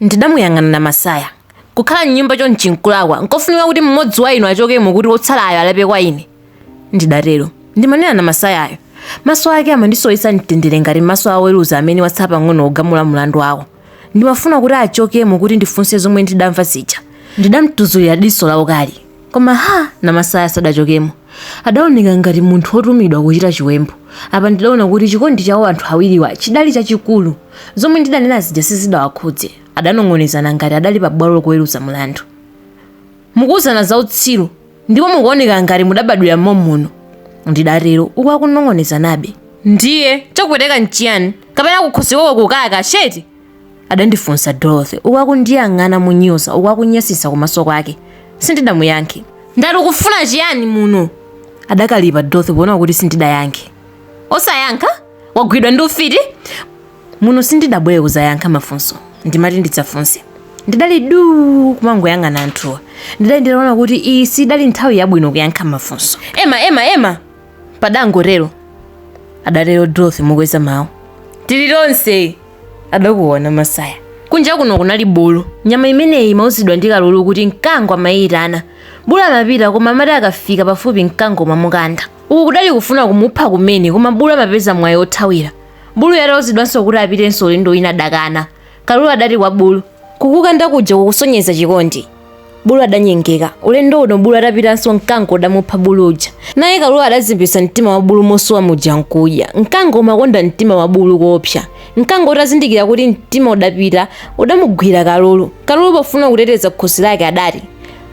Ndidamuyang'ana Namasaya. Kukhala m'nyumba chonchi nkulakwa. Nkofunika kuti mmodzi wa inu achokemo kuti wotsalayo alape kwa ine. Ndidatero. Ndimanena Namasayayo. Maso ake amandisowetsa mtendere ngati maso a oweruza amene watsala pang'ono kugamula mlandu wako. Ndimafuna kuti achokemo kuti ndifunse zomwe ndidamva zija. Ndidamtuzulira diso laukali. koma ha namasaya sadachokemo adaoneka ngati munthu wotumidwa kuchita chiwembu apa ndidaona kuti chikondi chawo anthu awiriwa chidali chachikulu zomwe ndidanena zija sizidawakhudze adanong'onezana ngati adali pa bwalo lokuweruza mlandu mukuwuzana za utsiru ndipo mukuoneka ngati mudabadwira mommuno ndidatero uku akunong'onezanabe ndiye chakupweteka nchiyani kapena kukhosi kwako kukaka sheti adandifunsa Dorothy uku akundiyang'ana monyoza uku akunyasisa kumaso kwake. Sindidamuyankhe. Ndati ukufuna chiyani muno? Adakalipa Dorothy poona kuti sindidayankhe. Osayankha? Wagwidwa ndi ufiti? Muno sindidabwere kuzayankha mafunso. Ndimati ndidzafunse. Ndidali du kumangoyang'ana anthuwa. Ndidali nditaona kuti iyi sidali nthawi yabwino kuyankha mafunso. Ema, ema, ema! Padangotero. Adatero Dorothy mokweza mawu. Tili tonse! adakuwa namasaya kunja kuno kunali bulu nyama imeneyi imauzidwa ndi kalulu kuti mkango umayiitana bulu amapita koma amati akafika pafupi mkango umamukanda uku kudali kufuna kumupha kumene koma bulu amapeza mwayi othawira bulu atauzidwanso kuti apitenso ulendo wina adakana kalulu adati kwa bulu kukukanda kuja kukusonyeza chikondi bulu adanyengeka ulendo uno bulu atapitanso mkango udamupha bulu uja naye kalulu adazembetsa mtima wa bulu mosowa muja nkudya mkango umakonda mtima wa bulu koopsa mkango utazindikira kuti mtima udapita udamugwira kalulu kalulu pofuna kuteteza khosi lake adati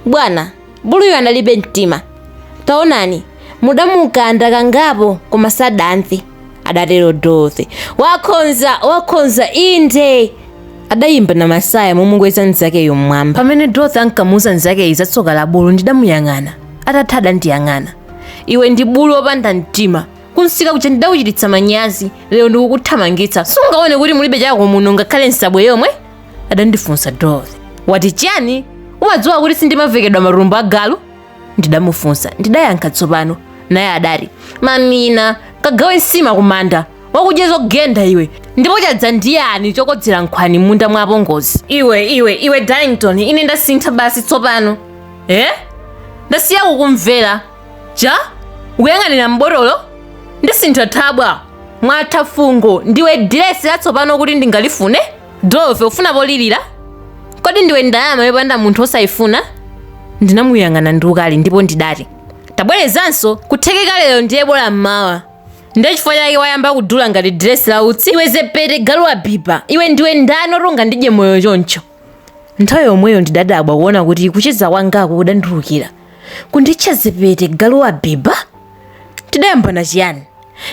bwana buluyo analibe mtima taonani mudamukanda kangapo koma sadamve adatero dorothy wakhonza wakhonza inde adayimba namasaya momukweza mnzakeyo mmwamba pamene dorothy ankamuuza mnzakeyi za tsoka la bulu ndidamuyang'ana atatha adandiyang'ana iwe ndi bulu opanda mtima kumsika kuja ndidakuchititsa manyazi lero ndikukuthamangitsa sungaone kuti mulibe chako muno ngakhale nsabwe yomwe adandifunsa dorothy wati chiyani umadziwa kuti sindimavekedwa matumbo a galu ndidamufunsa ndidayankha tsopano naye adati mamina kagawe nsima kumanda wakudya zogenda iwe ndipo chadza ndi yani chokodzera nkhwani mmunda mwa apongozi iwe iwe iwe darlington ine ndasintha basi tsopano e ndasiya kukumvera ja ukuyang'anira mbotolo ndasintha thabwa mwatha fungo ndiwe diresi latsopano kuti ndingalifune Dorothy, ufuna polirira? Kodi ndiwe ndalama yopanda munthu osayifuna? Ndinamuyang'ana ndi ukali ndipo ndidati, tabwerezanso kuthekeka lero ndiye bola mmawa. Ndiye chifukwa chake wayamba kudula ngati diresi la utsi. Iwe zepete galu wa biba, iwe ndiwe ndani woti ungandidye moyo choncho? Nthawi yomweyo ndidadabwa kuona kuti kucheza kwangako kudandulukira. Kunditcha zepete galu wa biba? Tidayambana chiyani?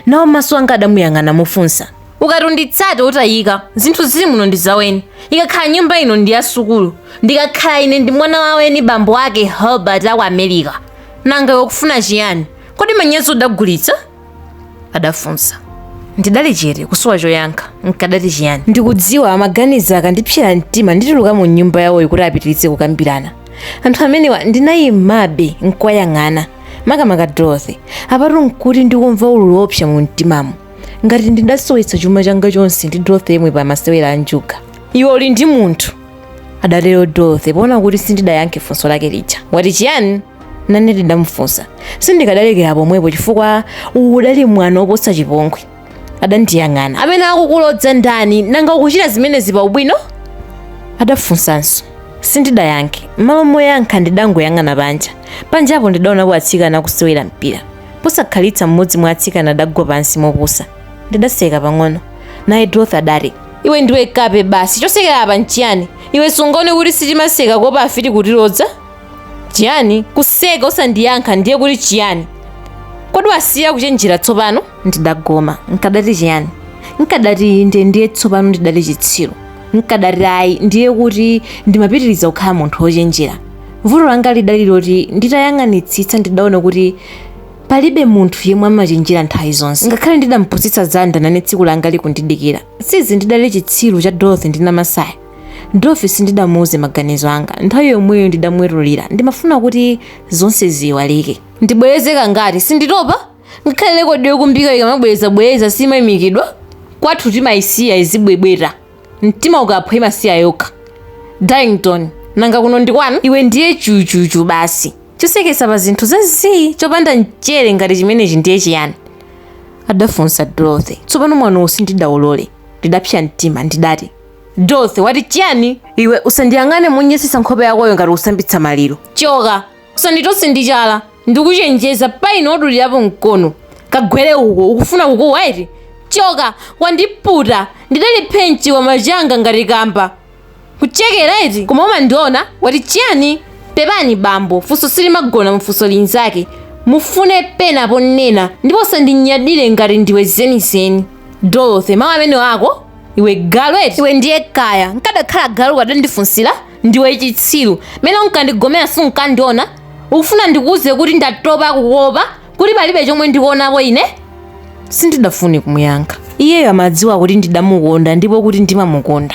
nawo maso anga adamuyang'ana mofunsa ukati unditsata utayika zinthu zili muno ndi zaweni ikakhala nyumba ino ndi yasukulu ndikakhala ine ndi mwana waweni bambo ake herbert aku america nanga iwe ukufuna chiyani kodi manyazi udagulitsa adafunsa ndidali chete kusowa choyankha nkadati chiyani ndikudziwa amaganiza akandipsera mtima ndituluka mu nyumba yawoyo kuti apitiritse kukambirana anthu amenewa ndinayimabe nkuwayang'ana makamaka dorothy apatu nkuti ndikumva ululu wopsa mu mtimamo ngati ndidasowetsa chuma changa chonse ndi dorothy yemwe pa masewera a njuga iwe uli ndi munthu adatero dorothy poona kuti sindidayankhe funso lake lija wati chiyani nane ndidamufunsa sindikadalekera pomwepo chifukwa uwu udali mwano woposa chipongwe adandiyang'ana amene akukulodza ndani nanga ukuchita zimenezi pa ubwino adafunsanso sindidayankhe m'malo moyankha ndidangoyang'ana panja panjapo ndidaonapo atsikana akusewera mpira posakhalitsa mmodzi mwa atsikana adagwa pansi mopusa ndidaseka pang'ono naye dorothy adati iwe ndiwe kape basi chosekera apa nchiyani iwe sungaone kuti sitikuseka kuopa afiti kutilodza Chiyani? Kuseka osandiyankha ndiye kuti chiyani? Kodi wasiya kuchenjera tsopano? Ndidagoma. Nkadati chiyani? Nkadati inde ndiye tsopano ndidali chitsiru. Nkadati ayi ndiye kuti ndimapitiriza kukhala munthu wochenjera. Vuto langa lidali loti nditayang'anitsitsa ndidaona kuti palibe munthu yemwe amachenjera nthawi zonse. Ngakhale ndidampusitsa Zanda nane tsiku langa lidali kundidikira. Sizi ndidali chitsiru cha Dorothy ndi Namasaya. Dorothy sindidamuuze maganizo anga. Nthawi yomweyo ndidamwetulira. Ndimafuna kuti zonse ziiwalike. Ndibwereze kangati? Sinditopa. Ngakhale lekodi yokumbika ikamabwerezabwereza simaimikidwa. Kwathu timaisiya izibwebweta. Mtima ukaphwa imasiya yokha. Darlington, nanga kuno ndi kwanu? Iwe ndiye chuchuchu basi. Choseketsa pa zinthu za zii chopanda mchere ngati chimenechi ndiye chiyani? adafunsa Dorothy. Tsopano mwanowo sindidaulole. Ndidapsa mtima. Ndidati. Dorothy wati chiyani? Iwe usandiyang'ane mondinyansa nkhope yakoyo ngati wosambitsa maliro. Choka, usanditose ndi chala. Ndikuchenjeza pa ine udulirapo mkono. Kagwere uko, ukufuna kukuwa eti? Choka, wandiputa. Ndidali phenchi wa machanga ngati kamba. Kuchekera eti? Koma umandiona? Wati chiyani? Pepani bambo, funso silimagona mfunso linzake. Mufune pena ponena ndipo usandinyadire ngati ndiwe zenizeni. Dorothy, mawu amenewa ako? iwe galu eti iwe ndiye kaya nkadakhala galu ukadandifunsira ndiwe chitsiru mene unkandigomera sunkandiona ukufuna ndikuuze kuti ndatopa kukopa kuti palibe chomwe ndikuonapo ine sindidafune kumuyankha iyeyo amadziwa kuti ndidamukonda ndipo kuti ndimamukonda